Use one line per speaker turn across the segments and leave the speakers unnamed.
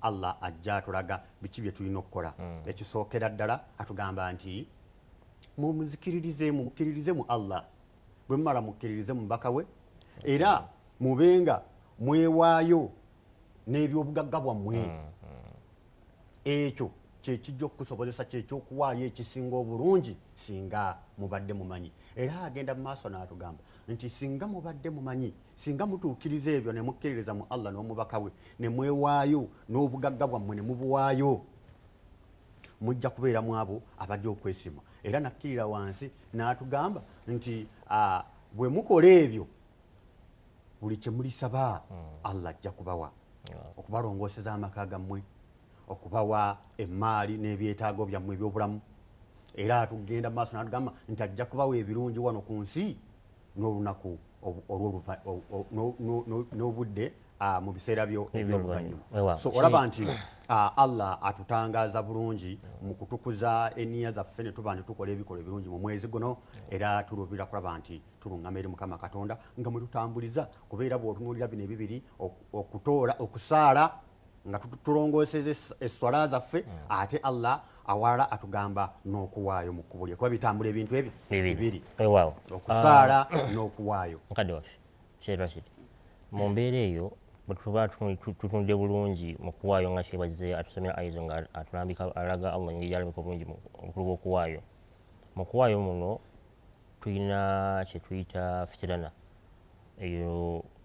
Allah ajja atulaga biki bye tulina okukola mm. ekisookera ddala atugamba nti mumuzikiririze mumukiririze mu Allah bwe mumala mukiririze mubaka we era mubenga mwewaayo n'ebyobugagga bwammwe mm, mm. ekyo kyekijja okukusobozesa kyekyokuwaayo ekisinga obulungi singa mubadde mumanyi era agenda mu maaso n'atugamba nti singa mubadde mumanyi singa mutuukiriza ebyo ne mukkiririza mu allah n'omubaka we ne mwewaayo n'obugagga bwammwe ne mubuwaayo mujja kubeera mu abo abajja okwesima era nakkirira wansi n'atugamba nti bwe mukola ebyo buli kye mulisaba hmm. allah ajja kubawa okubalongooseza amaka gammwe okubawa emmaali n'ebyetaago byammwe ebyobulamu era atugenda mu maaso n'atugamba nti ajja kubawa ebirungi wano ku nsi n'olunaku n'obudde mu biseera byo ebyoluvannyuma so olaba nti allah atutangaaza bulungi mu kutukuza eniya zaffe ne tuba nti tukola ebikola ebirungi mu mwezi guno era tuluubirira kulaba nti tuluŋŋama eri mukama katonda nga mwe tutambuliza kubeera bw'otunuulira bino ebibiri okutoola okusaala nga tulongooseza esswala zaffe hmm. ate allah awalala atugamba n'okuwaayo mu kkubo lye kuba bitambula ebintu ebyo bibiri okusaala ah. n'okuwaayo mukadde waffe
kyerwa kiri mu mbeera eyo bwetuba tutunde bulungi mu kuwaayo nga kyebazze atusomera aizo nga atulambika alaga allah ngeri yalambika obulungi obukulu bw'okuwaayo mu kuwaayo muno tulina kyetuyita fitirana eyo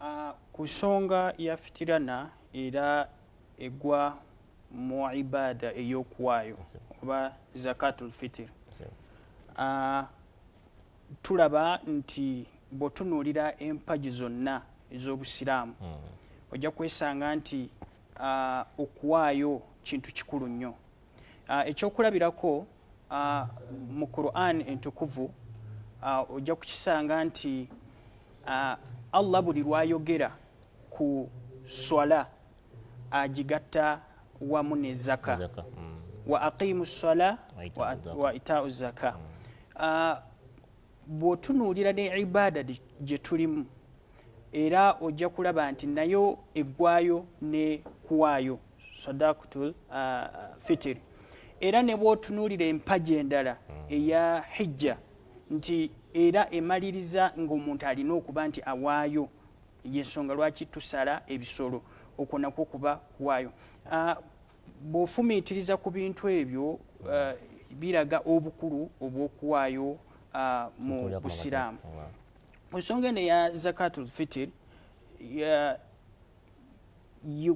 ah, ku nsonga ya fitirana era egwa mu ibaada ey'okuwaayo oba zakatul fitir ah, tulaba nti bw'otunuulira empagi zonna ez'obusiraamu hmm. ojja kwesanga nti ah, okuwaayo kintu kikulu nnyo Ah, ekyokulabirako ah, mu quran entukuvu ah, ojja kukisanga nti allah buli lwayogera ku swala agigatta wamu ne zaka mm. wa aqimu swala wa itau zaka mm. bwotunuulira ne ibada gye tulimu era ojja kulaba nti nayo eggwayo ne kuwaayo sadakutul uh, fitiri era ne bwotunuulira empaji endala hmm. eya hijja nti era emaliriza ng'omuntu alina okuba nti awaayo yensonga lwaki tusala ebisolo okwo nakwo kuba kuwaayo uh, bw'ofumiitiriza ku bintu ebyo uh, biraga obukulu obw'okuwaayo uh, mu busiraamu ku nsonga eno eya zakatul fitir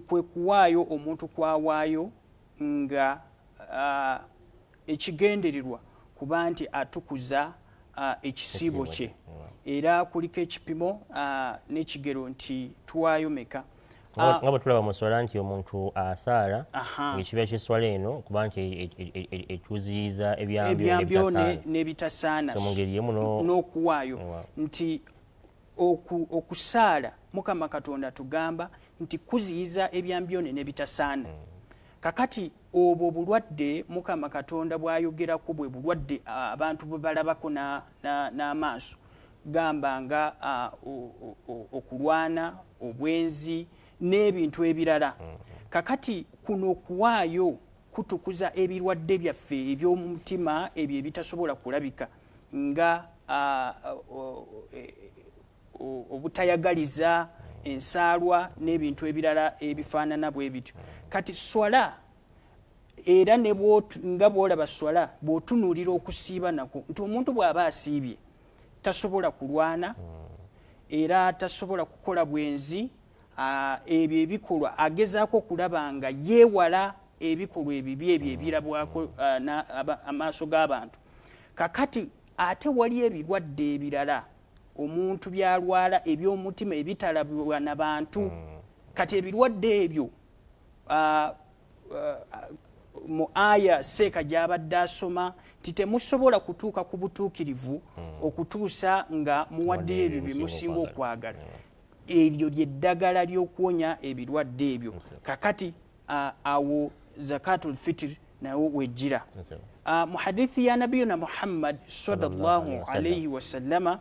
kwe kuwaayo omuntu kwawaayo nga uh, ekigendererwa kuba nti atukuza uh, ekisiibo kye era kuliko ekipimo uh, n'ekigero nti tuwaayo meka Ah. nga bwetulaba
muswala nti omuntu asaala ekiba kyeswala eno kuba nti e, e, e, ekyuziyiza ebyambyo
nebitasaana n'okuwaayo nti okusaala mukama katonda tugamba nti kuziyiza ebyambyone nebitasaana hmm. kakati obwo bulwadde mukama katonda bwayogerako bwe bulwadde abantu bwebalabako n'amaaso gamba nga okulwana obwenzi n'ebintu ebirala mm. kakati kuno okuwaayo kutukuza ebirwadde byaffe eby'omutima ebyo ebitasobola kulabika nga e, obutayagaliza ensaalwa n'ebintu ebirala ebifaanana bwe bityo kati swala era nga bwolaba swala bw'otunuulira okusiiba nakwo nti omuntu bw'aba asiibye tasobola kulwana hmm. era tasobola kukola bwenzi ebyo ebikolwa agezaako okulaba nga yeewala ebikolwa ebibi ebyo hmm. ebirabwako hmm. amaaso g'abantu kakati ate wali ebirwadde ebirala omuntu byalwala eby'omutima ebitalabwa na bantu kati ebirwadde ebyo uh, mu aya seeka gy'abadde asoma nti temusobola kutuuka ku butuukirivu hmm. okutuusa nga muwaddeyo ebyo bye musinga okwagala hmm. eryo lyeddagala ly'okuwonya ebirwadde ebyo kakati uh, awo zakatul fitir nawo wejjira uh, mu hadithi ya nabiyuna muhammad sallallahu alaihi wasallama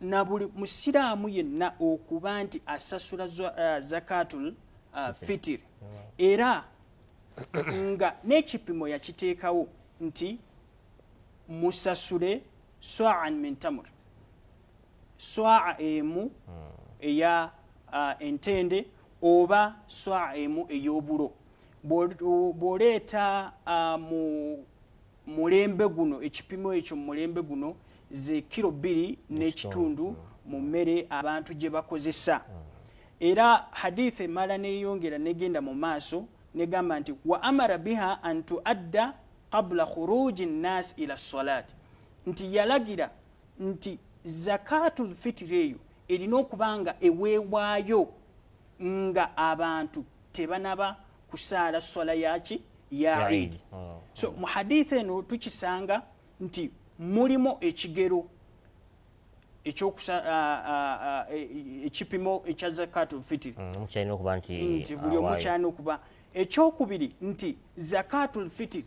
na buli musiraamu yenna okuba nti asasula uh, zakatul uh, fitir era nga n'ekipimo yakiteekawo nti musasule swaan min tamur swaa emu hmm. eya uh, entende oba swaa emu ey'obulo bw'oleeta uh, mu mulembe guno ekipimo ekyo mumulembe guno ze kiro bbiri n'ekitundu mu mmere abantu gye bakozesa era hadith emala neyongera negenda mu maaso negamba nti wa amara biha an tuadda qabula khuruji nnas ila salat nti yalagira nti zakatu lfitiri eyo erina okuba nga eweewaayo nga abantu tebanaba kusaala swala yaki ya idi oh. so mu haditha eno tukisanga nti mulimu ekigero e, ekipimo ekya zakat lfitiri mm, nti buli omu kyalina okuba ekyokubiri nti zakat lfitiri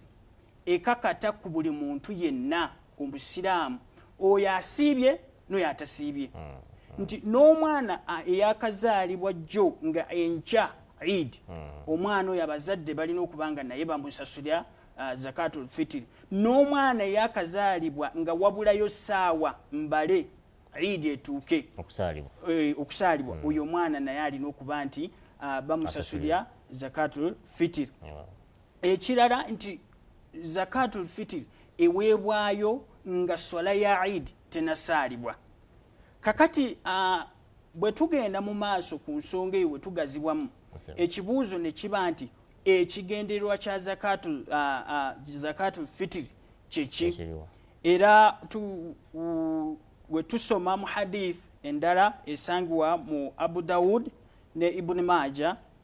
ekakata ku buli muntu yenna ku busiraamu oyo asiibye noyo atasiibye mm, mm. nti n'omwana eyakazaalibwa jjo nga enkya eid mm. omwana oyo abazadde balina okuba nga naye bamusasulira uh, zakatul fitiri n'omwana eyakazaalibwa nga wabulayo saawa mbale idi etuuke okusaalibwa eh, oyo omwana naye alina okuba nti uh, bamusasulira zakatul fitiri ekirala nti zakatul fitir eweebwayo nga swala ya idi tenasaalibwa kakati uh, bwe tugenda mu maaso ku nsonga eyo wetugazibwamu ekibuuzo ne kiba nti ekigendererwa kya zakatul, uh, uh, zakatul fitir kyeki era tu, uh, we tusoma mu hadith endala esangibwa mu abu daud ne ibuni maaja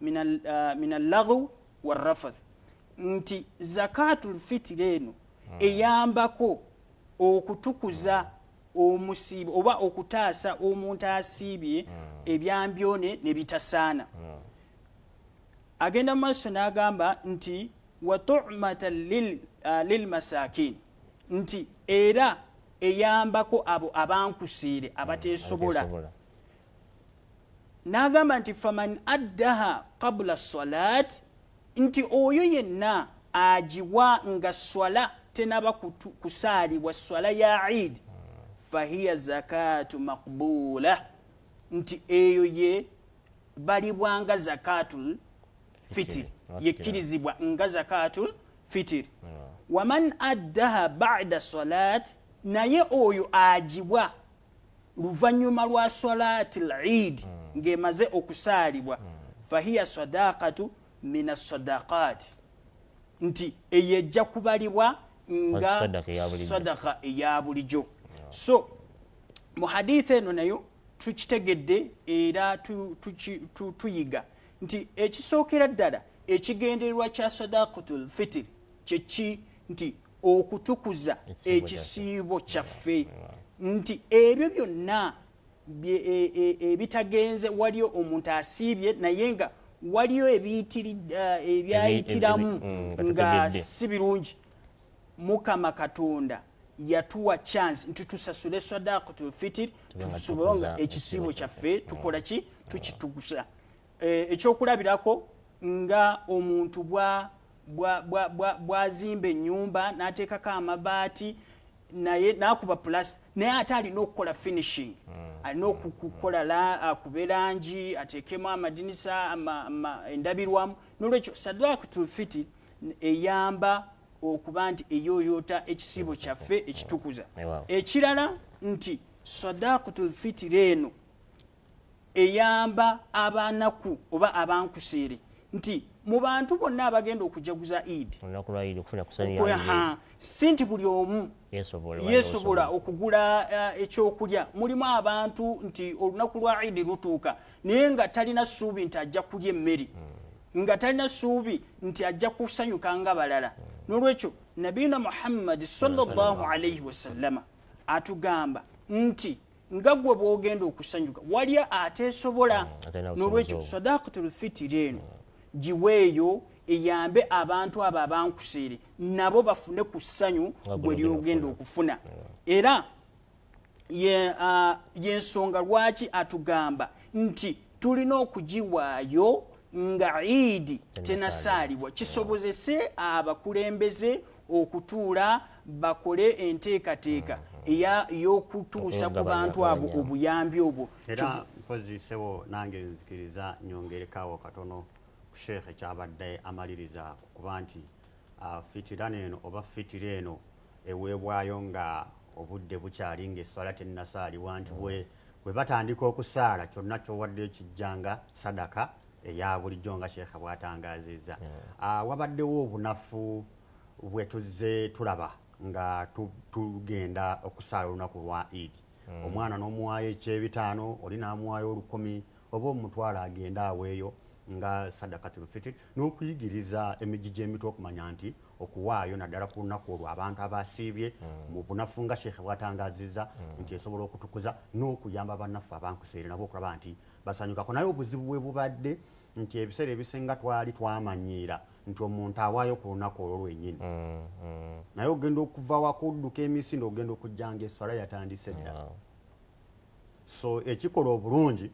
min allaghu warrafath nti zakatul fitiri eno hmm. eyambako okutukuza omusiibo oba okutaasa omuntu asiibye hmm. ebyambyone ne bitasaana hmm. agenda mu maaso n'agamba nti watumata lilmasakin uh, nti era eyambako abo abankusiire abateesobola N'agamba nti faman addaha qabula salaat, nti oyo yenna agiwa nga swala tenaba kusaalibwa swala ya iid fahiya zakaatu maqbuula, nti eyo ye balibwa nga zakaatul fitiri, yekkirizibwa nga zakaatul fitiri. Waman addaha ba'da salaat, naye oyo agiwa luvanyuma lwa salati lid mm. ng'emaze okusaalibwa mm. fahiya sadaqatu min assadaqat nti eyo ejja kubalibwa nga sadaka eya bulijo so mu haditha eno nayo tukitegedde era tuyiga nti ekisookera ddala ekigendererwa kya sadaqatul fitiri kyeki nti okutukuza ekisiibo kyaffe nti ebyo byonna e, e, ebitagenze waliyo omuntu asiibye naye nga waliyo eh, ebyayitiramu mm, nga si birungi mukama katonda yatuwa chance nti tusasule sadaqatul fitir tusobole nga ekisiibo kyaffe tukola ki tukitugusa Eh, ekyokulabirako nga omuntu bwazimba enyumba nateekako amabaati naye nakuba plus naye ate alina okukola finishing hmm. alina okukola akube langi ateekemu amadinisa endabirwamu nolwekyo sadwakutulfiti eyamba okuba nti eyoyota ekisiibo kyaffe ekitukuza ekirala nti sadakutulfitiri eno eyamba abanaku oba abankuseere nti mu bantu bonna abagenda okujaguza idi si nti buli omu yesobola okugula eh, ekyokulya mulimu abantu nti olunaku lwa idi lutuuka naye nga talina suubi nti ajja kulya emmere hmm. nga talina suubi nti ajja kusanyuka nga balala hmm. nolwekyo nabiina muhammadi sallallahu alaihi wasallama atugamba nti nga gwe bwogenda okusanyuka waliyo ateesobola mm, nolwekyo sadakatul fitiri eno giweeyo eyambe abantu abo abankuseere nabo bafune ku ssanyu gwe lyogenda okufuna era yensonga lwaki atugamba nti tulina okugiwaayo nga iidi tenasaalibwa kisobozese abakulembeze okutuula bakole enteekateeka mm-hmm. ey'okutuusa ku bantu abo obuyambi obwo era mpozisewo
nange nzikiriza nyongerekawo katono ku sheekh ekyabadde amaliriza kuba nti ah, fitira neeno oba fitira eno eweebwayo nga obudde bukyali ngaeswala tennasaaliwa nti bwe mm-hmm. bwe batandika okusaala kyonna kyowadde ekijjanga sadaka eya bulijjo nga sheekha bw'atangaazizza hmm. ah, wabaddewo obunafu bwe tuzze tulaba nga tugenda okusaala olunaku lwa idi hmm. omwana n'omuwaayo ekyebitaano oli n'amuwaayo olukumi oba omutwala agende aweeyo nga sadakatul fitir n'okuyigiriza emijji gy'emitwe okumanya nti okuwaayo naddala ku lunaku olwo abantu abasiibye hmm. mu bunafu nga sheekhe bwatangazizza hmm. nti esobola okutukuza n'okuyamba bannaffe abankuseere nabo okulaba nti basanyukako naye obuzibu bwe bubadde nti ebiseera ebisinga twali twamanyiira nti omuntu awaayo ku lunaku olwo lwenyini hmm, naye ogenda okuva wakudduka emisinde ogenda okujjanga eswala yatandise dda so ekikola obulungi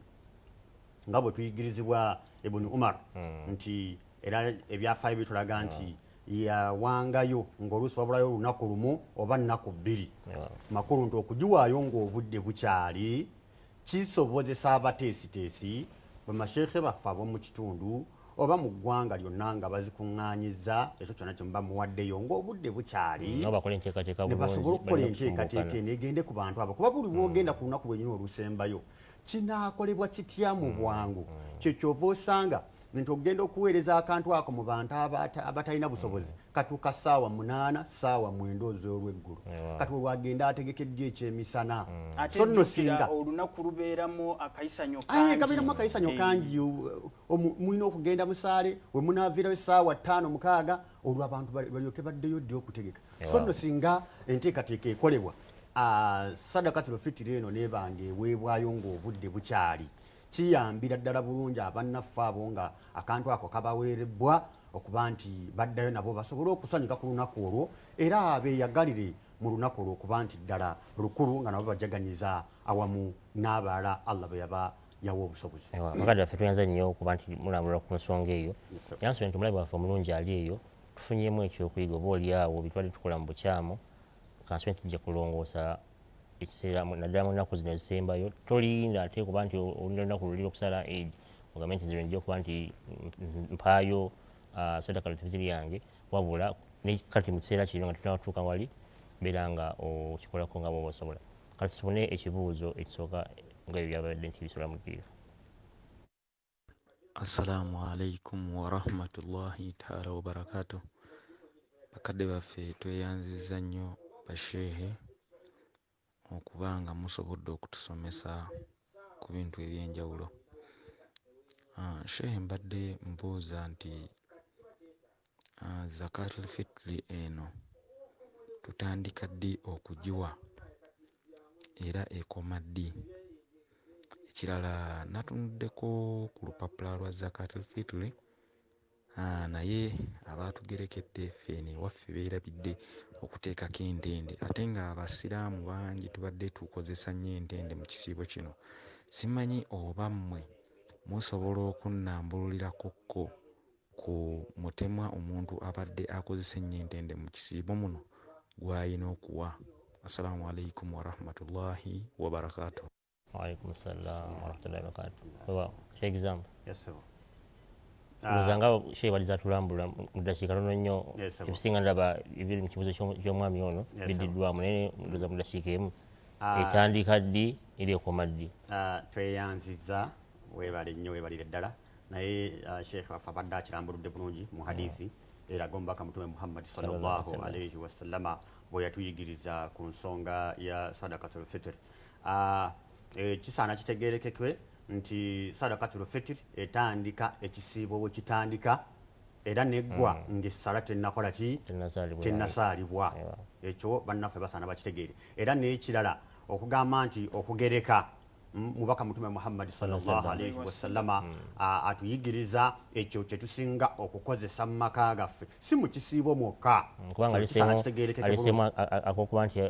nga bwe tuyigirizibwa ibuni umar hmm. nti era ebyafaayo bitulaga hmm. nti yawangayo ngaoluusi wabulayo olunaku lumu oba nnaku bbiri hmm. makulu nti okugiwaayo ngaobudde bukyali kisobozesa abateesiteesi bamasheekhe baffe abomu kitundu oba mu ggwanga lyonna nga bazikuŋŋaanyiza ekyo kyonna kye muba muwaddeyo ng'obudde bukyali mm, ne basobola okukola enteekateeka eno egende ku bantu abo kuba buli lwogenda ku lunaku lwenyini olusembayo kinaakolebwa kitya mu mm, bwangu mm. kye kyova osanga nti okugenda okuweereza akantu ako mu bantu abatalina busobozi katuuka saawa munaana saawa mwenda oz'olweggulu kati olwagenda ategekeddyo ekyemisana mm. so nno singa olunaku lubeeramu
akayisanyo kangi kabeeramu akayisanyo eh.
kangi mulina okugenda musaale we munaavirayo essaawa ttaano mukaaga olwo abantu balyoke baddeyo ddi okutegeka so nno singa enteekateeka ekolebwa sadakatul fitiri eno nebanga eweebwayo ng'obudde bukyali kiyambira ddala bulungi abannaffe abo nga akantu ako kabaweerebbwa okuba nti baddayo nabo basobole okusanyuka ku lunaku olwo era beeyagalire mu lunaku olwo okuba nti ddala lukulu nga nabo bajaganyiza awamu n'abalala allah bwe yaba yawa obusobozi bakadde baffe tweyanza
nnyo okuba nti mulambula ku nsonga eyo yansobye nti omulabi waffe omulungi ali eyo tufunyemu ekyokuyiga oba oli awo bitwali tukola mu bukyamu kansobe nti tujja kulongoosa ekiseera naddala mu nnaku zino ezisembayo tolinda ate kuba nti olina olunaku luli okusala ed ogambe nti zino nja okuba nti mpaayo ah, sadaka lutibiti lyange wabula nekati mu kiseera kino nga tutanatuuka wali mbeera nga okikolako nga bwoba osobola Kati tufune ekibuuzo ekisooka nga ebyo byabadde nti bisula mu ddiiro.
Assalamu alaikum warahmatullahi taala wabarakatu. Bakadde baffe tweyanzizza nnyo basheehe okuba nga musobodde okutusomesa ku bintu eby'enjawulo. Ah, shehe mbadde mbuuza nti ah, zakatul fitri eno tutandika ddi okugiwa era ekoma ddi? Ekirala natunuddeko ku lupapula lwa zakatul fitri Haa naye abaatugerekedde ffe eno ewaffe beerabidde okuteekako entende ate ng'Abasiraamu bangi tubadde tukozesa nnyo entende mu kisiibo kino. Simanyi oba mmwe musobola okunnambululirako ko ku mutemwa omuntu abadde akozesa ennyo entende mu kisiibo muno gw'alina okuwa. Assalamu Alaikum Warahmatullahi Wabarakatuh. Waalaikum
salaam warahmatullahi wabarakatuh. Weewaawo Sheikh Gizamba. Yes sebo.
Ndowooza
ah. nga Sheikh bali zatulambula mu ddakiika tono nnyo ebisinga ndaba ebiri mu kibuuzo ky'omwami ono biddiddwamu naye ndowooza mu ddakiika emu ah. etandika ddi eri ekoma ddi. Ah, tweyanziza
weebale nnyo weebalire ddala naye Sheikh waffe abadde akirambuludde bulungi mu hadithi mm. eraga omubaka mutume Muhammad sallallahu alaihi wasallama bwe yatuyigiriza ku nsonga ya sadakatul fitiri Ah, eh, kisaana kitegeerekekwe nti sadakatul fitir etandika ekisiibo bwe kitandika era neggwa mm. ng'essala tennakola ki tennasaalibwa ekyo bannaffe basaana bakitegeere era n'ekirala okugamba nti okugereka mubaka mutume muhammadi salllahalaihi wasallama mm. atuyigiriza ekyo kyetusinga okukozesa mu maka gaffe si mu kisiibo mwokka mm, kubanga
kitegeerekekekuba nti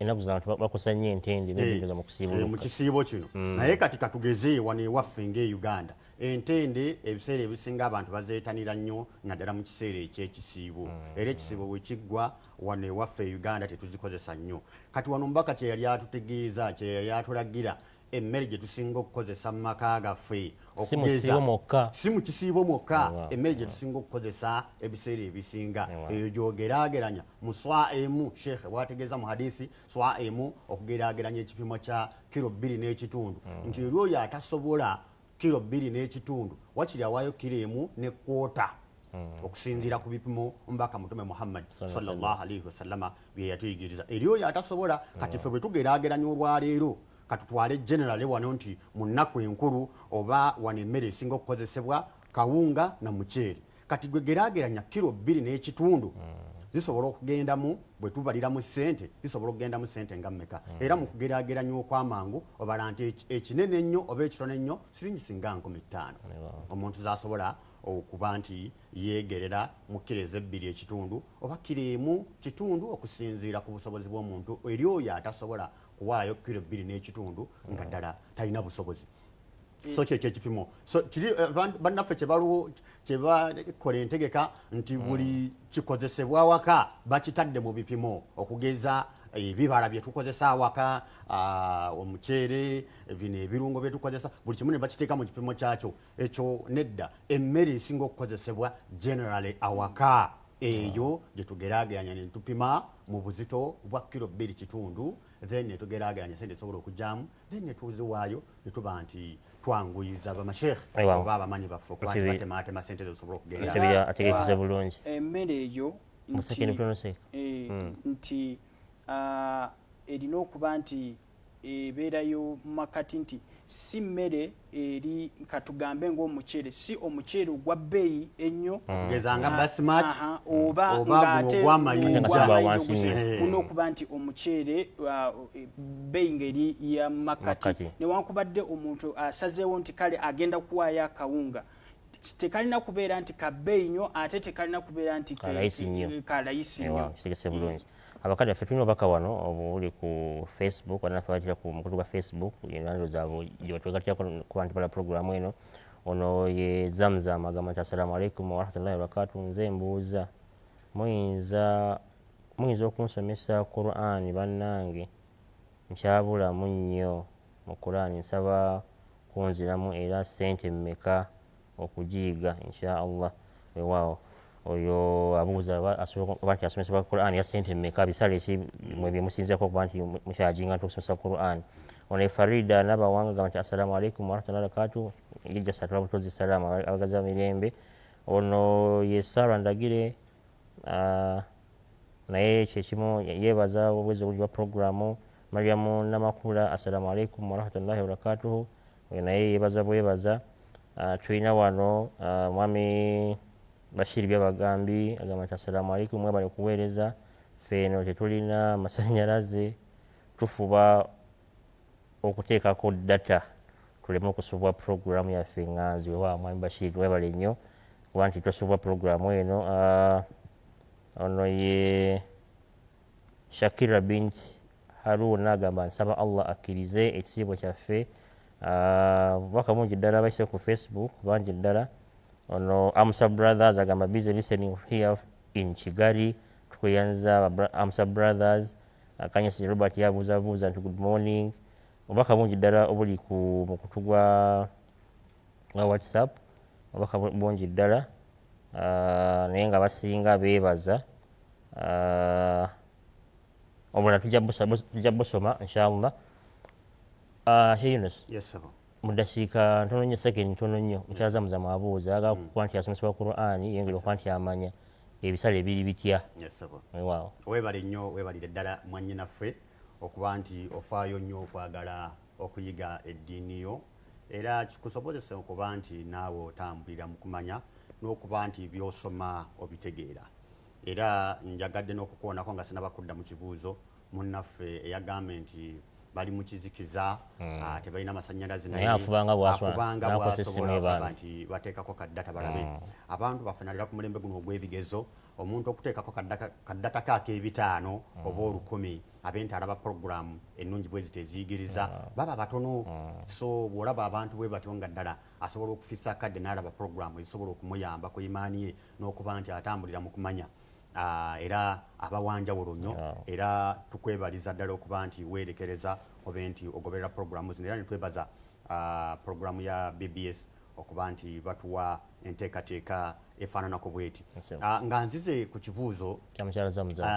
enaku zino abantu bakosa nnyo entende benyingiza mu kusiibuluka eh, mu kisiibo kino mm.
naye kati katugeze wano ewaffe nga e uganda entende ebiseera ebisinga abantu bazeetanira nnyo naddala mu kiseera ekyekisiibo mm. era ekisiibo bwe kiggwa wano ewaffe e uganda tetuzikozesa nnyo kati wano mubaka kye yali atutegeeza kye yali atulagira emmere gye tusinga okukozesa mu maka gaffe si mu kisiibo mwokka si mu kisiibo mwokka emmere gye tusinga okukozesa ebiseera ebisinga eyo gyogeraageranya mu swa emu sheekhe bwategeeza mu hadithi swa emu okugeraageranya ekipimo kya kiro bbiri n'ekitundu mm. nti eri oyo atasobola kilo bbiri n'ekitundu wakiri awaayo kilo emu ne kwota hmm. okusinziira ku bipimo omubaka mutume muhammad sallallahu alaihi wasallama bye yatuyigiriza eri oyo atasobola kati ffe bwe tugeraageranya olwaleero katutwale generale wano nti mu nnaku enkulu oba wano emmere esinga okukozesebwa kawunga na muceere kati gwe gerageranya kiro bbiri n'ekitundu hmm. zisobola okugendamu bwe tubaliramu ssente zisobola okugendamu ssente nga mmeka hmm. era mu kugerageranya okw'amangu obala nti ekinene ennyo oba ekitono ennyo siringi singa nkumi ttaano omuntu zasobola okuba nti yeegerera mu kkiro ezebbiri ekitundu oba kkiro emu kitundu okusinziira ku busobozi bw'omuntu eri oyo atasobola kuwaayo kkiro bbiri n'ekitundu nga hmm. ddala talina busobozi so mm. kyekyo ekipimo so kiri eh, bannaffe kyebaluwo kyebakola entegeka nti mm. buli kikozesebwa awaka bakitadde mu bipimo okugeza eh, ebibala byetukozesa awaka ah, omuceere bino ebirungo byetukozesa buli kimu nebakiteeka mu kipimo kyakyo ekyo nedda emmere esinga okukozesebwa generally awaka eyo gyetugerageranya netupima mu buzito bwa kiro bbiri kitundu then netugerageranya sente esobola okugyamu then netuziwaayo netuba nti twanguyiza bamasheekh oba abamanyi baffe okubatematema sente zosobola okugendategekize bulungi
emmere eyo
eh, hmm. nti ah, erina okuba nti ebeerayo mu makati nti si mmere eri katugambe ngaomuceere si omuceere ogwa bbeeyi ennyo mm. ogezanga ah, basmat
oba mm.
ngateogwamayijaolina okuba nti omuceere uh, bbeeyi ngaeri ya makkati newankubadde omuntu asazeewo nti kale agenda kuwaayo akawunga tekalina kubeera nti kabbeeyi nnyo ate tekalina kubeera nti kalayisi nnyo
Abakadde baffe tulina obubaka wano obuli ku Facebook wano naffe batira ku mukutu gwa Facebook enando zaabwe gyebatugatirako ku bantu bala pulogulaamu eno ono ye zamzam agamba nti assalamu alaikum warahmatullahi wabarakatu nze mbuuza muyinza muyinza okunsomesa qurani bannange nkyabulamu nnyo mu qurani nsaba kunziramu era sente mmeka okugiyiga insha Allah wewaawo oyo abuuza oba nti asomesebwa quran ya sente meka bisale ki mwe byemusinzako okuba nti mukyajinga nti okusomesa quran ono efarida nabawanga gamba nti assalamu alaikum warahmatullahi wabarakatu yejasatula butozi salaamu abagaza mirembe ono ye sara ndagire ah, naye kyekimu yebaza obwezi obuli bwa programu mariamu namakula assalamu alaikum warahmatullahi wabarakatuhu Oyo naye yebaza bwebaza. Uh, tulina wano uh, mwami Bashir byabagambi agamba nti assalamu alaikum mwebale kuweereza ffe eno tetulina masanyalaze tufuba okuteekako data tuleme okusubwa puroguramu yaffe nga nziwe wa mwami bashiri webale nnyo kuba nti tosubwa puroguramu eno ah, ono ye Shakira bint Haruna agamba nsaba Allah akkirize ekisiibo kyaffe obubaka bungi ddala baise ku Facebook bangi ddala ono Amsa Brothers agamba busy listening here in Kigali tweyanza Amsa Brothers Kanyasi Robert yabuuzabuuza nti good morning obubaka bungi ddala obuli ku mukutu gwa nga whatsapp obubaka bungi ddala ah, naye nga basinga beebaza ah, obulala tujja busoma inshallah ah, sheyunus
mudasiika
ntono nnyo second ntono nnyo mukyala zamuza mwabuuza aga mm. kuba nti asomesebwa qurani yengeri okuba nti amanya ebisale biri bitya
webale
nnyo webalire
ddala mwanyinaffe okuba nti ofaayo nnyo okwagala okuyiga eddiini yo era kikusobozese okuba nti naawe otambulira mu kumanya n'okuba nti by'osoma obitegeera era njagadde n'okukoonako nga sinaba kudda mu kibuuzo munnaffe eyagambe nti bali mu kizikiza hmm. ah, tebalina masannyalaze naye afubanga
bwasobola
nti bateekako kaddata balabe hmm. abantu bafanalira ku mulembe guno ogw'ebigezo omuntu okuteekako kaddatako ak'ebitaano hmm. oba olukumi ab'ente alaba puroguramu ennungi bwe ziti eziyigiriza mm. baba batono mm. so bw'olaba abantu bwe batyo nga ddala asobola okufisa akadde n'alaba puroguramu ezisobola okumuyamba ku imaani ye n'okuba nti atambulira mu kumanya ah, era abawanjawulo nnyo era tukwebaliza ddala okuba nti weerekereza obe nti ogoberera puroguramu zino era netwebaza ah, puroguramu ya bbs okuba nti batuwa enteekateeka efaananako bweti ah, nga nzize ku kibuuzo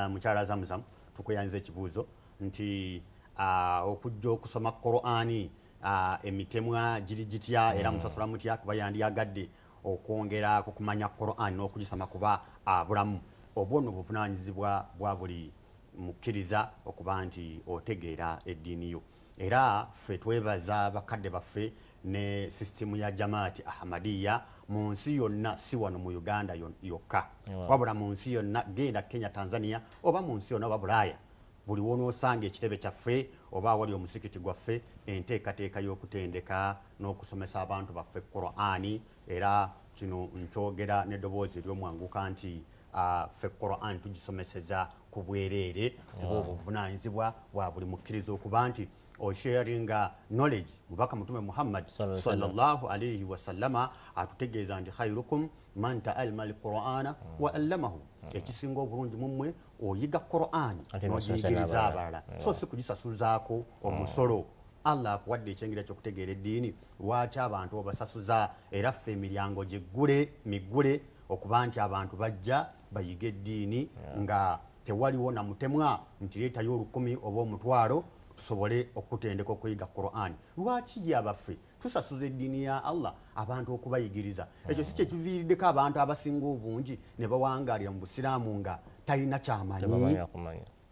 mukyala zamuzamu Tukuyanyiza ekibuuzo nti ah, okujja okusoma Qur'ani ah, emitemwa giri gitya era mm. musasula mutya kuba yandyagadde okwongera ku kumanya Qur'ani n'okugisoma kuba abulamu ah, obwo no buvunaanyizibwa bwa buli mukkiriza okuba nti otegeera eddiini yo era ffe twebaza bakadde baffe ne sisitimu ya jamaati ahmadiya mu nsi yonna si wano mu uganda yokka wabula mu nsi yonna genda kenya tanzania oba mu nsi yonna oba bulaaya buli wonoosanga ekitebe kyaffe oba awali omusikiti gwaffe enteekateeka y'okutendeka n'okusomesa abantu baffe qurani era kino nkyogera n'eddoboozi ery'omwanguka nti ah, ffe qurani tugisomeseza ku bwereere oba obuvunanyizibwa bwa buli mukkiriza okuba nti osharinga knowledge mubaka mutume muhammad sallallahu alaihi wasallama atutegeeza nti khairukum man taalma alqurana mm. wa allamahu mm. ekisinga obulungi mumwe oyiga qurani nogiyigiriza abalala mm. so si kugisasuzaako omusolo allah akuwadde ekyengera kyokutegeera eddiini lwaki abantu obasasuza era ffe emiryango giggule miggule okuba nti abantu bajja bayiga eddiini nga tewaliwo na mutemwa nti leetayo olukumi oba omutwalo tusobole okutendeka okuyiga quran lwaki ye abaffe tusasuza eddiini ya allah abantu okubayigiriza ekyo si kyekiviiriddeko abantu abasinga obungi ne bawangaalira mu busiraamu nga talina kyamanyi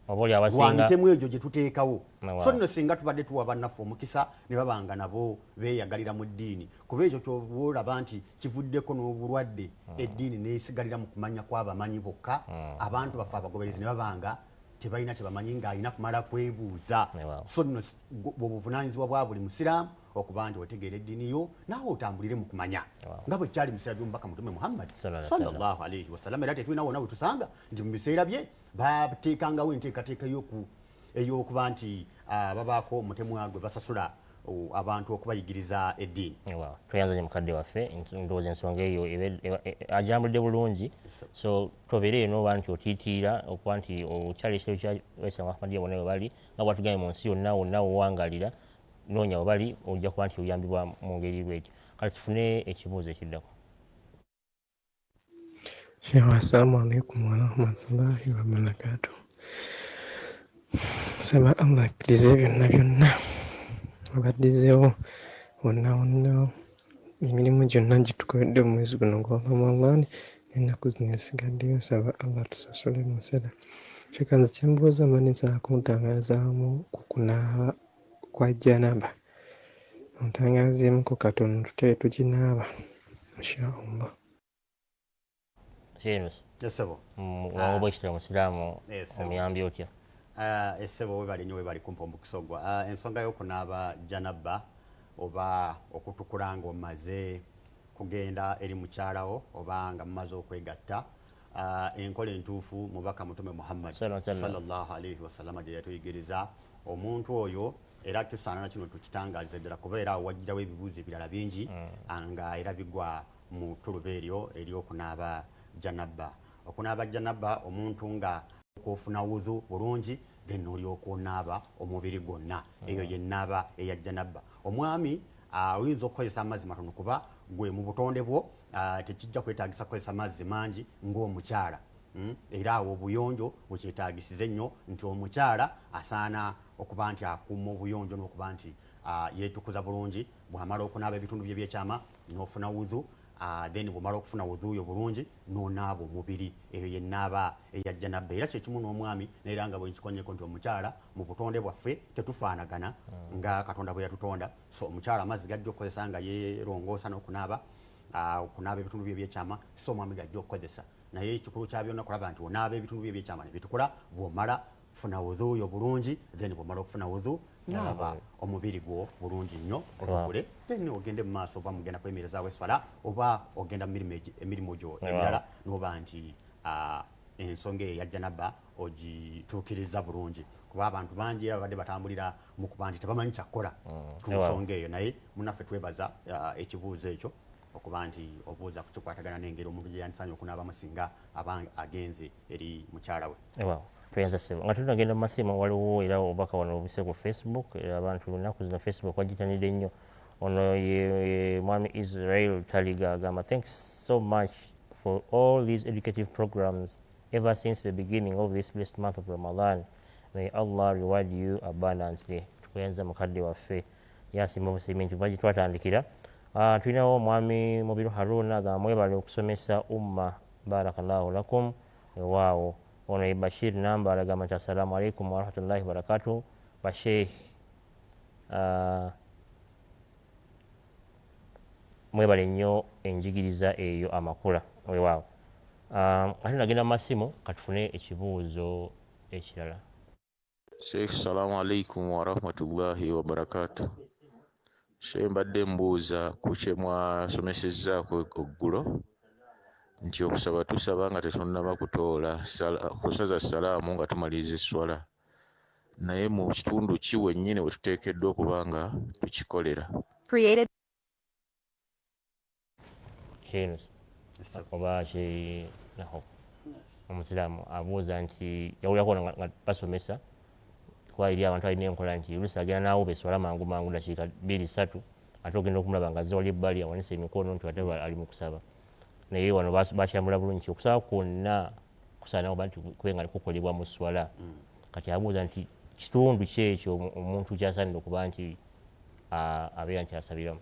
lwa mitemu egyo gye tuteekawo so nno singa tubadde tuwa bannaffe omukisa ne babanga nabo beeyagalira mu ddiini kuba ekyo kyoba olaba nti kivuddeko n'obulwadde hmm. eddiini neyisigalira mu kumanya kw'abamanyi bokka hmm. abantu baffe abagoberezi ne babanga tebalina kyebamanyi ng'alina kumala kwebuuza so nno bwobuvunanyizibwa bwa buli musiraamu okuba nti otegeera eddiini yo naawe otambulire mu kumanya nga bwe kyali musira by'omubaka mutume muhammad sallallahu alaihi wasallam era tetulina wona wetusanga nti mu biseera bye bateekangawo enteekateeka y'oku ey'okuba nti ah, babaako omutemwa gwe basasula oh, abantu okubayigiriza eddiini tweyanza nyo mukadde
waffe ndowooza ensonga eyo ajambudde bulungi so tobeere eno oba nti otiitiira okuba nti okyali ekitero kya waislamu ahmadiya bonna webali nga bwatugambye mu nsi yonna wonna wowangalira noonya webali ojja kuba nti oyambibwa mu ngeri bwetyo kati tufune ekibuuzo ekiddako
Sheikh, assalamu alaikum warahmatullahi wabarakatuh. Nsaba Allah akkirize byonna byonna abaddizeewo wonna wonna emirimu gyonna gitukoledde mu mwezi guno gwa Ramadan n'ennaku zino esigaddeyo nsaba Allah tusasule mu nsera. Sheikh, nze kyembuuza manyi za kuntangazaamu ku kunaaba kwa janaba ontangazeemuko katono tutayo tuginaaba inshallah
Sheikh Esebo.
Mwango bwe kitwa
Musiraamu omuyambi otya? Ah, Esebo
webale nnyo webale kumpa omukisa ogwo. Ah, ensonga y'okunaaba janabba oba okutukula ng'omaze kugenda eri mukyalawo oba nga mumaze okwegatta uh, enkola entuufu mubaka mutume muhammad sallallahu alaihi wasalama gye yatuyigiriza omuntu oyo era tusaana na kino tukitangalize ddala kuba era wajjirawo ebibuuzo ebirala bingi mm. ah, nga era bigwa mu tuluba eryo eryokunaaba janabba okunaaba janabba omuntu nga okufuna wuzu bulungi then olyoka onaaba omubiri gwonna mm. eyo yenaaba eya janabba omwami ah, oyinza okukozesa amazzi matono kuba gwe mu butonde bwo uh, tekijja kwetagisa kukozesa mazzi mangi ng'omukyala mm? era awo obuyonjo wekyetagisize nnyo nti omukyala asaana okuba nti akuuma obuyonjo n'okuba nti uh, yetukuza bulungi bwamala okunaaba ebitundu bye byekyama n'ofuna wudhu uh, then bwomala okufuna wudhu oyo bulungi n'onaaba omubiri eyo yenaaba eyajja nabba era kyekimu n'omwami naera nga bwenkikonyeko nti omukyala mu butonde bwaffe tetufaanagana mm. nga katonda bwe yatutonda so omukyala amazzi gajja okukozesa nga yerongoosa n'okunaaba ah, okunaaba ebitundu byo ebyekyama si omwami gajja okukozesa naye ekikulu kya byonna kulaba nti onaaba ebitundu byo ebyekyama ne bitukula bw'omala funa wudhu yo bulungi then bwomala okufuna wudhu nalaba omubiri gwo bulungi nnyo olugule then ogende mu maaso oba mugenda kwemerezaawo eswala oba ogenda emirimu gyo emirala noba nti ensonga eyo yajjanaba ogituukiriza bulungi kuba abantu bangi era babadde batambulira mukuba nti tebamanyi kyakukola mm. ku nsonga eyo naye munaffe twebaza uh, ekibuuzo ekyo okuba nti obuuza ku kikwatagana n'engeri omuntu gye yandisaanye okunaabamu singa aba agenze eri mukyala we tweyanza sebo nga
tunagenda mu masimu waliwo era obubaka wano obuse ku facebook era abantu lunaku zino facebook wagitanidde nnyo ono ye mwami israel taliga agamba thanks so much for all these educative programs ever since the beginning of this blessed month of ramadan mm. may Allah reward you abundantly tukuyanza mukadde waffe yasimba obusiimi nti bagi twatandikira ah, tulinawo omwami mubiru haruna ga mwebale okusomesa umma barakallahu lakum ewaawo ono ye bashir namba alagamba nti assalamu alaikum warahmatullahi wabarakatu basheikh ah, mwebale nnyo enjigiriza eyo amakula wewaawo ah, ate nagenda mu masimu katufune ekibuuzo ekirala
Sheikh salamu alaikum warahmatullahi wabarakatu Sheikh mbadde mbuuza ku kye mwasomesezzaako eggulo nti okusaba tusaba nga tetunnaba kutoola kusaza salaamu nga tumaliriza esswala naye mu kitundu ki wennyini we tuteekeddwa okuba nga tukikolera
sheikh oba sheikh omusiraamu abuuza nti yawulirako nga basomesa kuba eri abantu alina enkola nti olusi agenda naawo beswala mangu mangu dakiika bbiri ssatu ate ogenda okumulaba nga azze wali ebbali awanise emikono nti ate ali mu kusaba naye wano bakyambula bulungi nti okusaba kwonna kusaanawo banti kube nga kukolebwa mu swala mm. kati abuuza nti kitundu kyekyo omuntu kyasaanira okuba nti abeera nti asabiramu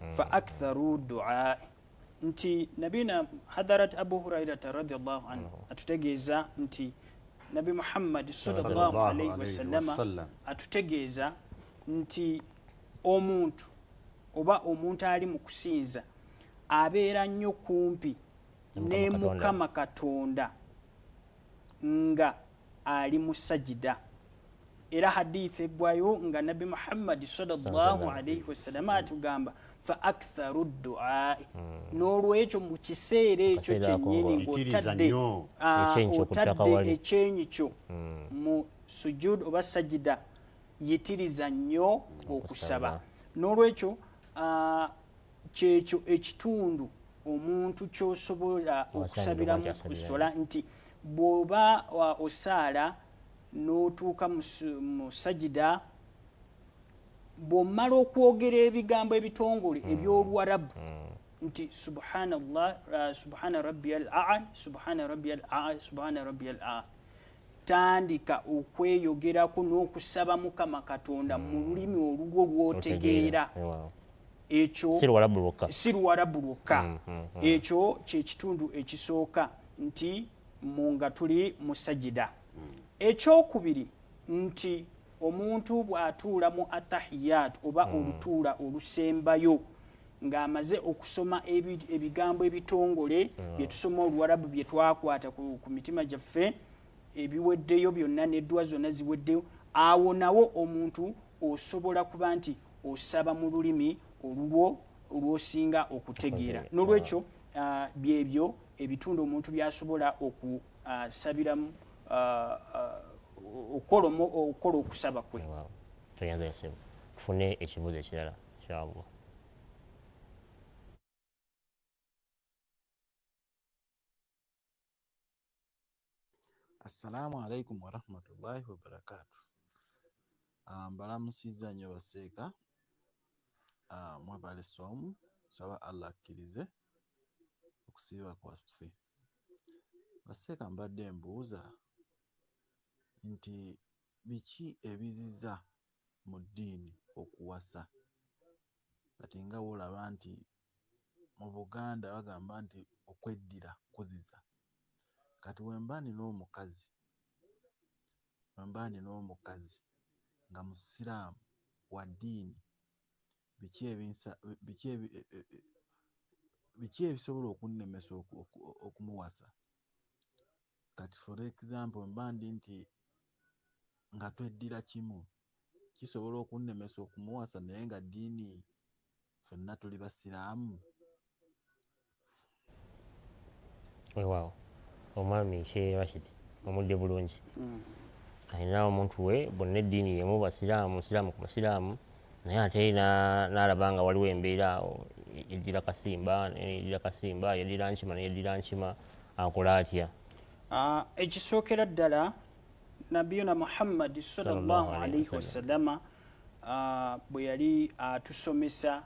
mm. fa aktharu duai nti nabina hadarat abu hurairata radiallahu anhu mm. atutegeeza nti nabi muhammadi salllahu alaihi wasallama atutegeeza nti omuntu oba omuntu ali mu kusinza abeera nnyo kumpi ne mukama katonda nga ali mu sajida era hadith eggwayo nga nabbi muhammadi salllahu alaihi wasalama atugamba fa aktharu duai hmm. n'olwekyo mu kiseera ekyo kyennyini ng'otadde ah, otadde ekyenyi kyo hmm. mu sujud oba sajida yitiriza nnyo okusaba n'olwekyo ah, kyekyo ekitundu omuntu kyosobola okusabiramu kusola nti bwoba osaala n'otuuka mu sajida bwomala okwogera ebigambo ebitongole hmm. ebyoluwarabu hmm. nti subhanallah uh, subhana rabbi al aa subhana rabbi al aa subhana rabbi al aa tandika okweyogerako n'okusaba mukama katonda mu hmm. lulimi olulwo lwotegeera ekyo si luwarabu lwokka hmm, hmm, ekyo kyekitundu ekisooka nti mu nga tuli musajida ekyokubiri nti omuntu bw'atuula mu atahiyaatu oba hmm. olutuula olusembayo ng'amaze okusoma ebigambo ebitongole hmm. bye tusoma oluwarabu bye twakwata ku mitima gyaffe ebiweddeyo byonna n'eddwa zonna ziweddeyo awo nawo omuntu osobola kuba nti osaba mu lulimi olulwo olwosinga okutegeera n'olwekyo ah, byebyo ebitundu omuntu byasobola asabiramu okukola okukola okusaba kwe toyanza yasebo tufune
ekibuuzo ekirala inshallah
Assalamu alaikum warahmatullahi wabarakatu. Ah, mbalamusizza nnyo baseeka ah, mwebale somu nsaba allah akkirize okusiiba kwaffe Baseeka mbadde mbuuza nti biki ebiziza mu ddiini okuwasa kati nga wolaba nti mu Buganda bagamba nti okweddira kuziza kati wemba nina omukazi wemba nina omukazi nga musiraamu wa ddiini biki ebinsa biki ebi e, e, e, biki ebisobola okunnemesa okumuwasa kati for example mba ndi nti nga tweddira kimu kisobola okunnemesa okumuwasa naye nga ddiini fenna tuli basiraamu
wewaawo omwami she rashid omudde bulungi mm. alina omuntu we bonna eddiini yemu basiraamu musiraamu ku musiraamu naye ate nalaba nga waliwo embeera awo yeddira kasimba yeddira kasimba yeddira nkima neyeddira nkima akola atya ah,
ekisookera ddala nabiyuna muhammadi sallallahu alaihi wasalama ah, bwe yali atusomesa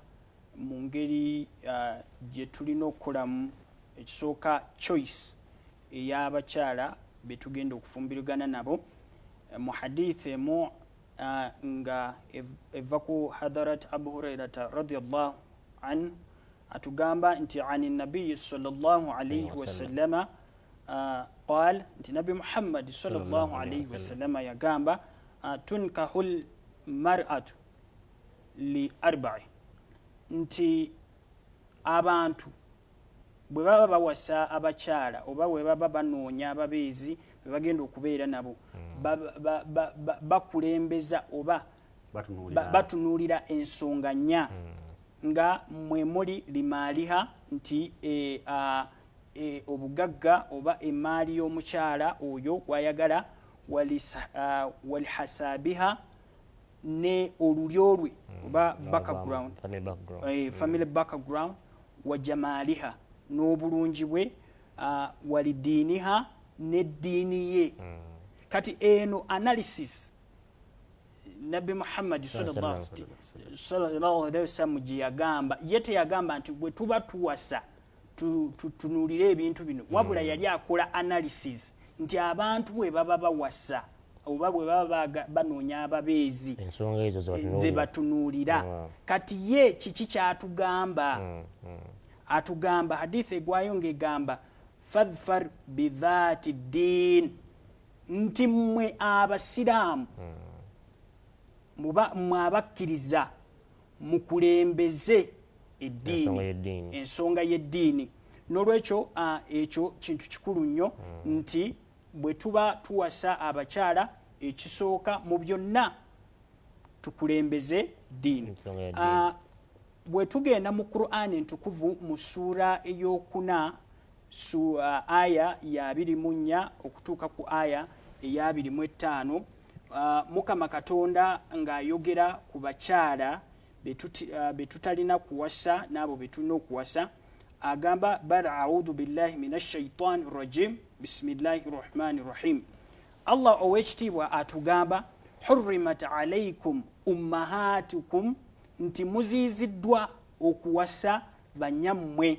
mu ngeri uh, gye tulina okukolamu ekisooka choice ey'abakyala be tugenda okufumbirigana nabo eh, mu hadith emu uh, nga eva ku hadarat abu hurairata radiallahu anhu atugamba nti ani nabiyi sallallahu alaihi wasallama wa Ah, qal nti nabi muhammadi salllahalaihi wasalama yagamba ah, tunkahu lmaratu li arba'i nti abantu bwe baba bawasa abakyala oba bwe baba banoonya ababeezi be bagenda okubeera nabo hmm. bakulembeza oba batunuulira ensonga nnya hmm. nga mwe muli limaaliha nti e, e, obugagga oba emaali y'omukyala oyo gwayagala walihasaabiha ne olulyo lwe hmm. oba background eh, family hmm. background wajamaaliha n'obulungi bwe ah, walidiiniha n'eddiini ye hmm. kati eno analysis nabbi muhammadi sallallahu alaihi wasallam gye yagamba ye teyagamba nti bwe tuba tuwasa tutunuulire ebintu bino hmm. wabula yali akola analysis nti abantu bwe baba bawasa oba bwe baba banoonya ababeezi ze batunuulira hmm. kati ye kiki kyatugamba hmm, atugamba hadith egwayo ng'egamba fadfar bidhati ddin nti mmwe abasiraamu mmwe abakkiriza mukulembeze eddiini ensonga y'eddiini n'olwekyo ekyo kintu kikulu nnyo hmm. nti bwe tuba tuwasa abakyala ekisooka mu byonna tukulembeze ddiini bwe tugenda mu qur'an entukuvu mu ssuula ey'okuna Su, uh, aya ya abiri mu nnya okutuuka ku aya eya abiri mu ettaano uh, mukama katonda ng'ayogera ku bakyala uh, be tutalina kuwasa n'abo be tulina okuwasa agamba bal audhu billahi min ashaitani rajim bisimillahi rahmani rahim allah ow'ekitiibwa atugamba hurrimat alaikum ummahatukum nti muziiziddwa okuwasa banyammwe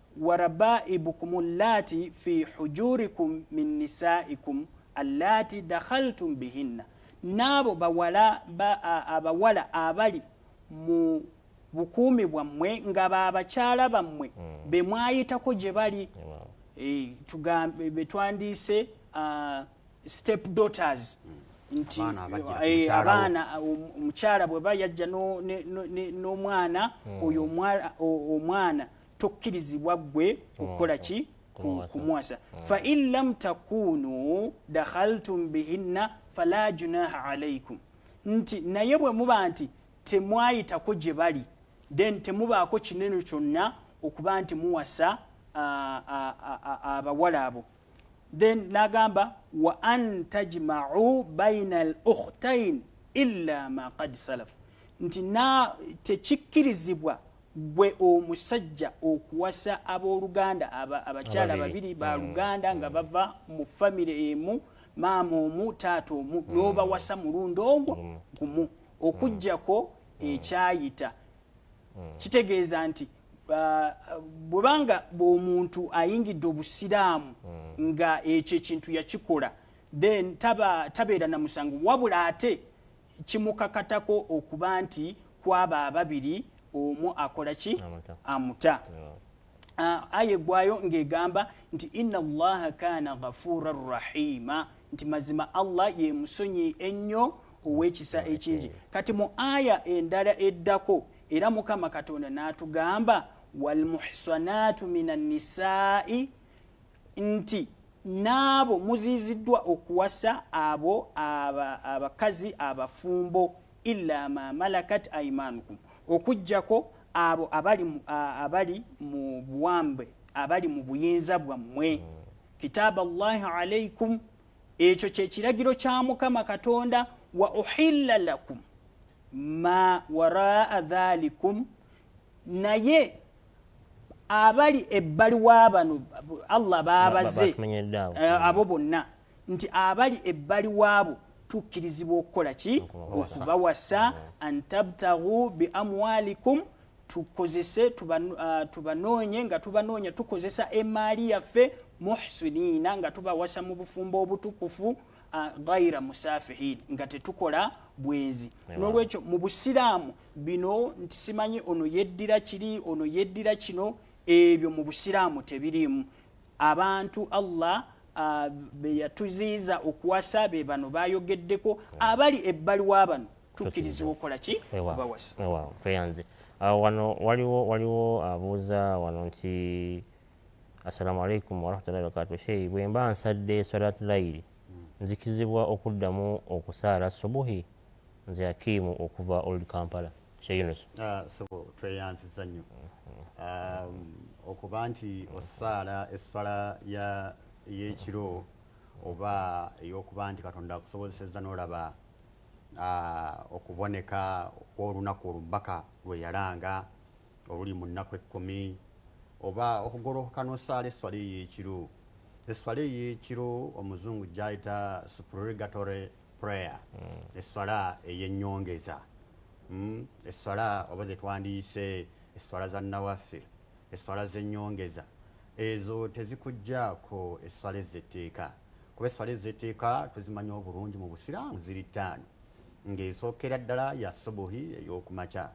warabaibukum allati fi hujurikum min nisaikum allati dakhaltum bihinna n'abo bawala abawala abali mu bukuumi bwammwe nga babakyala bammwe hmm. be mwayitako gye bali eh, tugambe be twandiise ah, step daughters hmm. nti eh, abaana ah, um, omukyala bweba yajja n'omwana hmm. oyo omwana tokkirizibwa ggwe okukola ki kumuwasa mm. fa in lam takunu dakhaltum bihinna fala junaha alaikum nti naye bwe muba nti temwayitako gye bali then temubaako kinene kyonna okuba nti muwasa abawala abo then nagamba wa an tajmau baina al ukhtain illa ma qad salaf nti na tekikkirizibwa gwe omusajja okuwasa abooluganda abakyala babiri ba mm. luganda nga mm. bava mu famire emu maama omu taata omu mm. n'obawasa mulundi ogwo gumu okugyako ekyayita kitegeeza nti uh, bwebanga bwomuntu ayingidde obusiraamu nga ekyo ekintu yakikola then tabeera na musango wabula ate kimukakatako okuba nti kwaba ababiri omu akola ki amuta ah, aya egwayo ng'egamba nti inna allaha kaana ghafuura rahima nti mazima allah ye musonyi ennyo ow'ekisa ekingi kati mu aya endala eddako era mukama katonda n'atugamba walmuhsanaatu min annisaai nti n'abo muziiziddwa okuwasa abo abakazi abafumbo illa ma malakat aimanukum okujjako abo abali abali mu buwambe abali mu buyinza bwammwe hmm. kitaaba llahi alaikum ekyo kyekiragiro kya mukama katonda wa uhilla lakum ma waraa dhalikum naye abali ebbali wabano allah babaze eh, abo bonna nti abali ebbali waabo tukkirizibwa okukola ki okubawasa antabtagu biamwalikum tukozese ah, tubanoonye nga tubanoonya tukozesa emaali yaffe muhsiniina nga tubawasa mu bufumbo obutukufu ah, gaira musafihin nga tetukola bwenzi nolwekyo mu busiraamu bino nti simanyi ono yeddira kiri ono yeddira kino ebyo mu busiraamu tebiriimu abantu allah uh, beyatuziiza okuwasa be bano bayogeddeko abali ebbali wa bano tukkirizibwa okukola ki bawasa tweyanze
ah, wano waliwo waliwo abuuza wano nti assalamu alaikum warahmatullahi wabarakatu sheyi bwemba nsadde swalatulayiri nzikizibwa okuddamu okusaala subuhi Nze Akim okuva Old Kampala. Sheikh Yunus. Ah, sebo tweyanziza
nnyo. Um, okuba nti osaala essala ya y'ekiro oba ey'okuba nti Katonda akusobozesezza n'olaba ah, okuboneka kw'olunaku olubaka lwe yalanga oluli mu nnaku ekkumi oba okugolokoka n'osaala esswala ey'ekiro esswala ey'ekiro omuzungu gy'ayita supererogatory prayer mm. esswala eyenyongeza mm. esswala oba zetwandiyise esswala za nawafir esswala zenyongeza ezo tezikujjaako esswala ezetteeka kuba esswala ezetteeka tuzimanya obulungi mu busiraamu ziri ttaano ng'esookera ddala ya subuhi ey'okumakya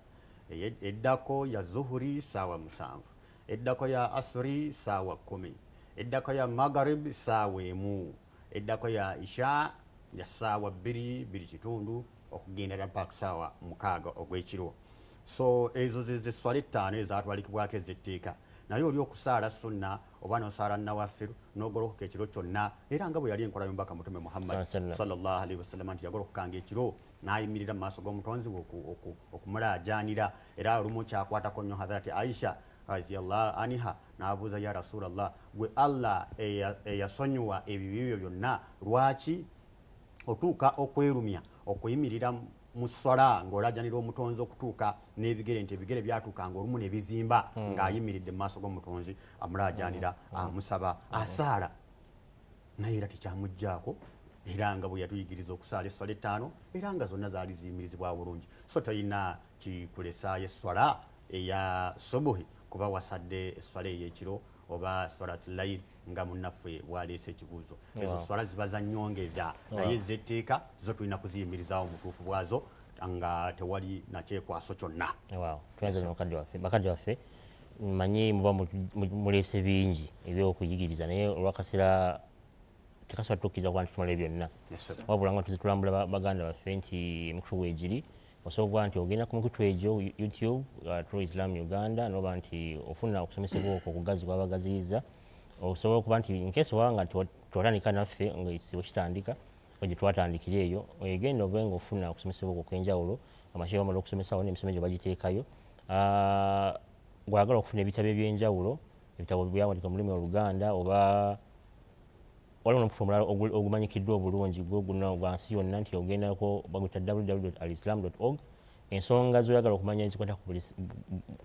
eddako ya zuhuri saawa musanvu eddako ya asuri saawa kkumi eddako ya magarib saawa emu Eddako ya Isha ya ssaawa bbiri, bbiri kitundu okugenda ddala mpaka ku ssaawa mukaaga ogw'ekiro. So ezo ze ze sswala ettaano ezaatwalikibwako ez'etteeka. Naye oli okusaala sunna oba n'osaala nawafir, n'ogolokoka ekiro kyonna, era nga bwe yali enkola y'omubaka Mutume Muhammad, swalla Llaahu alaihi wasallama, nti yagolokokanga ekiro n'ayimirira mu maaso g'Omutonzi we okumulaajaanira. Era olumu kyakwatako nnyo Hadharati Aisha, radhiyallahu anha, n'abuuza ya rasuula llah gwe allah eyasonyiwa ebibi byo byonna lwaki otuuka okwerumya okuyimirira mu sswala ng'olajanira omutonzi okutuuka n'ebigere nti ebigere byatuukanga olumu ne bizimba hmm. ng'ayimiridde mu maaso g'omutonzi amulaajanira hmm. Hmm. amusaba asaala naye era tekyamuggyako era nga bwe yatuyigiriza okusaala esswala ettaano era nga zonna zaali ziyimirizibwa bulungi so talina kikulesaayo esswala eya subuhi kuba wasadde esswala ey'ekiro oba swalatu layir nga munnaffe bwaleese ekibuuzo ezo swala ziba za nyongeza naye zetteeka zo tulina kuziyimirizaawo mubutuufu bwazo nga tewali nakyekwaso kyonna
bakadde waffe manyi muba muleese bingi ebyokuyigiriza naye olwakaseera tekasobola tukkiriza kuba nti tumalayo byonna wabula nga tuzitulambula baganda baffe nti emikutu weegiri Osobola okuba nti ogenda ku mikutu egyo YouTube, uh, True Islam Uganda, noba nti ofuna okusomesebwa okwo okugazi kwabagaziyiza. Osobola okuba nti nkesi oba nga twatandika naffe nga ekizibu kitandika gye twatandikira eyo egenda obe nga ofuna okusomesebwa okwo okwenjawulo amashehe bamala okusomesawo n'emisomo egyo bagiteekayo uh, gwagala okufuna ebitabo ebyenjawulo ebitabo byawandika mu lulimi oluganda oba Waliwo n'omukutu omulala ogumanyikiddwa obulungi gwe guno gwa nsi yonna nti ogendako baguyita www.alislam.org ensonga zoyagala okumanya ezikwata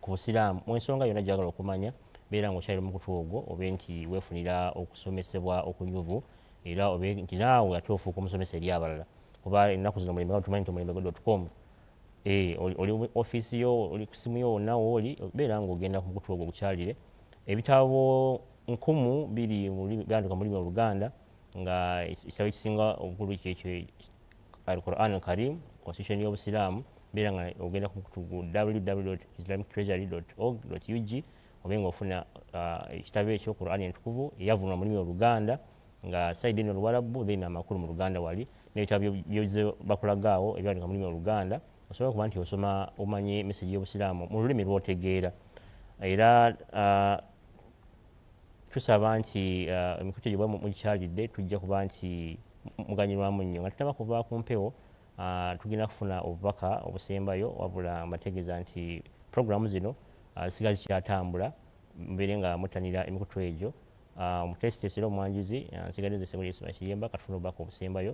ku busiraamu mu ensonga yonna gyagala okumanya beera nga okyalira omukutu ogwo obe nti weefunira okusomesebwa okunyuvu era obe nti naawe ate ofuuka omusomesa eri abalala kuba ennaku zino omulembe nga tumanyi nti omulembe gwe com eh, oli ofiisi yo oli ku simu yo wonna wooli beera nga ogenda ku mukutu ogwo ogukyalire ebitabo nkumu biri gaandika mu lulimi oluganda nga ekitabo ekisinga obukulu kyekyo al quran al karim constitution y'obusiraamu beera nga ogenda ku mukutu gu www islamic treasury org ug obe nga ofuna uh, ekitabo ekyo quran entukuvu eyavunwa mu lulimi oluganda nga saidi eno oluwalabbu then amakulu mu luganda wali n'ebitabo byozze bakulagaawo ebyandika mu lulimi oluganda osobola okuba nti osoma omanyi mesegi y'obusiraamu mu lulimi lwotegeera era uh, tusaba nti uh, emikutu egyo mugikyalidde tujja kuba nti muganyirwamu nnyo nga tutaba kuva ku mpewo uh, tugenda kufuna obubaka obusembayo wabula mbategeeza nti puroguramu zino zisiga zikyatambula mubeere nga muttanira emikutu egyo omuteesiteesi era omwanjuzi nsigadde nze sebuli ismail kiyemba katufuna obubaka obusembayo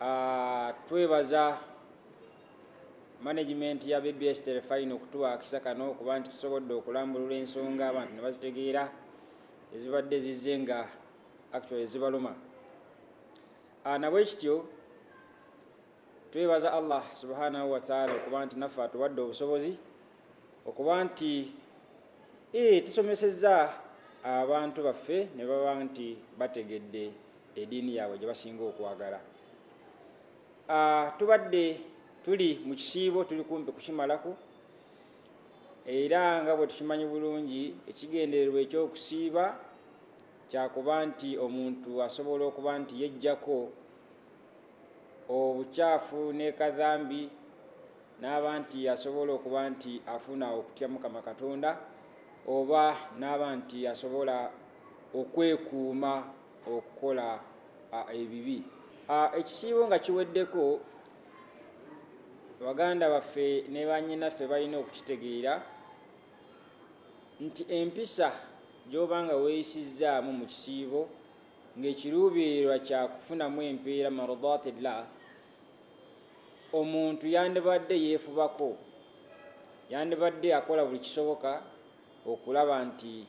Ah, twebaza management ya bbs telefayina okutuwa akisa kano okuba nti tusobodde okulambulula ensonga abantu ne bazitegeera ezibadde zizze nga actually zibaluma ah, nabwekityo twebaza allah subhanahu wataala okuba nti naffe atuwadde obusobozi okuba nti eh, tusomesezza abantu baffe ne baba nti bategedde ediini yaabwe gye basinga okwagala tubadde tuli mu kisiibo tuli kumpi kukimalako era nga bwe tukimanyi bulungi ekigendererwa ekyokusiiba kyakuba nti omuntu asobola okuba nti yejjako obukyafu ne kadhambi n'aba nti asobola okuba nti afuna okutya mukama katonda oba n'aba nti asobola okwekuuma okukola ebibi. Ekisiibo nga kiweddeko, baganda baffe ne bannyinaffe balina okukitegeera nti empisa gy'oba nga weeyisizzaamu mu kisiibo ng'ekiruubirirwa kya kufunamu empeera mardatillah omuntu yandibadde yeefubako yandibadde akola buli kisoboka okulaba nti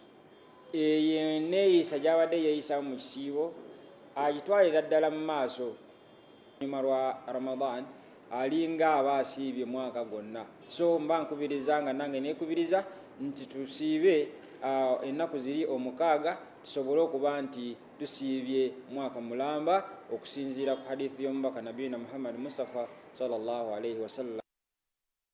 eyo eneeyisa gy'abadde yeeyisamu mu kisiibo agitwalira ddala mu maaso nyuma lwa ramadan alinga aba asiibye mwaka gwonna so mba nkubiriza nga nange neekubiriza nti tusiibe uh, ennaku ziri omukaaga tusobole okuba nti tusiibye mwaka mulamba okusinziira ku hadithi y'omubaka nabiyina muhammadi mustafa sallallahu alaihi wasallam